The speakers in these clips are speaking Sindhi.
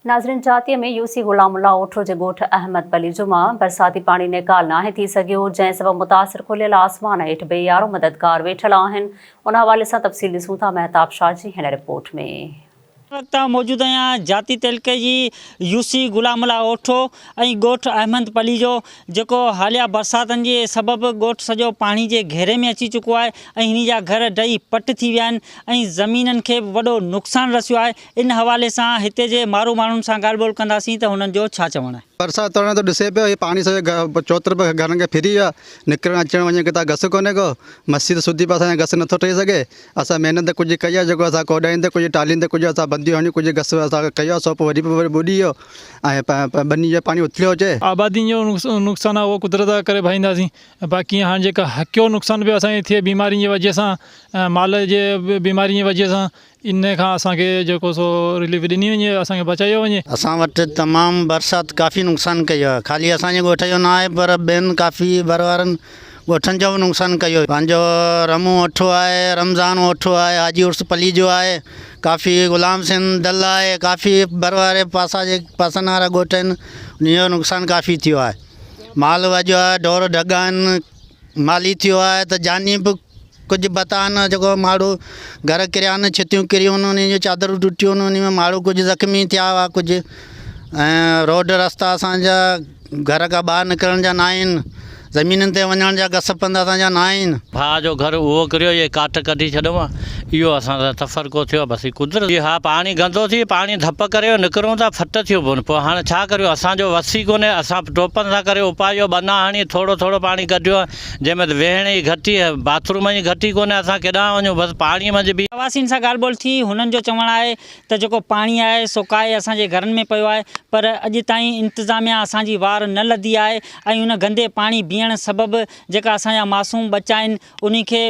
ناظرين جاتيء ۾ يو سي غلام الله اوٺو جي ڳوٺ احمد پلي جمعه برساتي پاڻي نيڪال ناهي ٿي سگهيو جنهن سبب متاثر کليل آسمان هيٺ بي يارو مددگار ويٺل آهن ان حوالي سان تفصيل ڏسون ٿا مهتاب شاهه جي هن رپورٽ ۾. هن وقت آئون موجود آهيان جاتي تعلقي جي يو سي غلام الله اوٺو ۽ ڳوٺ احمد پلي جو جيڪو حاليه برساتن جي سبب ڳوٺ سڄو پاڻي جي گهيري ۾ اچي چڪو آهي ۽ هني جا گهر ڊهي پٽ ٿي ويا آهن ۽ زمينن کي به وڏو نقصان رسيو آهي ان حوالي سان هتي جي مارو ماڻهن سان ڳالهه ٻولهه ڪنداسين ته هنن جو ڇا چوڻ آهي. پرساد ترڻي ٿو ڏسي پيو هي پاڻي سڄي چوطرف گهرن کي ڦري ويو آهي نڪرڻ اچڻ وڃڻ کي ته گس ڪونهي ڪو مسجد سودي پاسي اسان کي گس نٿو ٺهي سگهي اسان محنت ته ڪجهه ڪئي آهي جيڪو اسان ڪوڏائين تي ڪجهه ٽالهين تي ڪجهه اسان بنديون هڻيون ڪجهه گس اسان کي ڪيو آهي سو پوء وري به ٻڏي ويو ۽ ٻني جو پاڻي اٿليو اچي. آبادين جو نقصان آهي اهو قدرت جا ڪري ڀائينداسين باقي هاڻ جيڪا هڪيو نقصان پيو اسان کي ٿئي بيمارين جي وجهه سان مال جي بيمارين جي وجهه سان ان کان اسان کي جيڪو سو رليف ڏني وڃي اسان کي بچايو وڃي. اسان وٽ تمام برسات ڪافي نقصان ڪيو آهي خالي اسان جي ڳوٺ جو نه آهي پر ٻين ڪافي ڀر وارن ڳوٺن جو به نقصان ڪيو آهي پنهنجو رمون اوٺو آهي رمضان اوٺو آهي حاجي عرس پليجو آهي ڪافي غلام سين دل آهي ڪافي ڀر واري پاسا جي پاسن وارا ڳوٺ آهن انهن جو نقصان ڪافي ٿيو آهي مال وڄو آهي ڍور ڍڳا آهن مالي ٿيو آهي ته جاني به ڪجهه بتان جيڪو ماڻهو گهر ڪريان ڇتيون ڪريون ان جون چادرون ٽٽيون ان ۾ ماڻهو ڪجهه زخمي ٿيا هئا ڪجهه ۽ روڊ رستا اسانجا گهر کان ٻاهر نڪرڻ جا ناهن زمينن تي وڃڻ جا گس پنڌ اسانجا ناهن. ڀاء جو گهر اهو ڪريو جي ڪاٺ ڪڍي ڇڏيون ها اهو اسان سان تفرقو ٿيو بس هي قدرت جي ها پاڻي گندو ٿي پاڻي ڌپ ڪري جو نڪرون ٿا ڦٽ ٿيو پون پوء هاڻ ڇا ڪريون اسانجو وس ئي ڪونهي اسان ٽوپن سان ڪري اپاهيو ٻنا هڻي ٿورو ٿورو پاڻي ڪڍيون جنهن ۾ ته ويهڻ جي گهٽي، باٿ روم جي گهٽي ڪونهي، اسان ڪيڏانهن وڃون، بس پاڻي منجهه بيهون. رهواسين سان ڳالهه ٻولهه ٿي، هنن جو چوڻ آهي ته جيڪو پاڻي آهي سو ڪاهي اسان جي گهرن ۾ پيو آهي پر اڄ تائين انتظاميا اسان جي وار نه لڌي آهي ۽ ان گندي پاڻي بيهڻ سبب جيڪا اسان جا معصوم ٻچا آهن انهن کي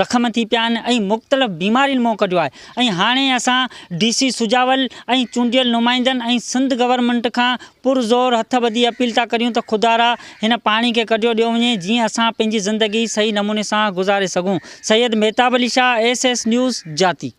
زخم ٿي پيا آهن ۽ مختلف بيمارين منهن ڪڍيو آهي ۽ هاڻي اسان ڊي سي سجاول ۽ چونڊيل نمائندن ۽ سنڌ گورنمينٽ کان پر زور هٿ ٻڌي اپيل ٿا ڪريون ته خدارا هن پاڻي کي ڪڍيو ڏيو وڃي جيئن اسان پنهنجي زندگي صحيح نموني سان گذاري سگهون Syed Mahtab Ali Shah S S news جاتي.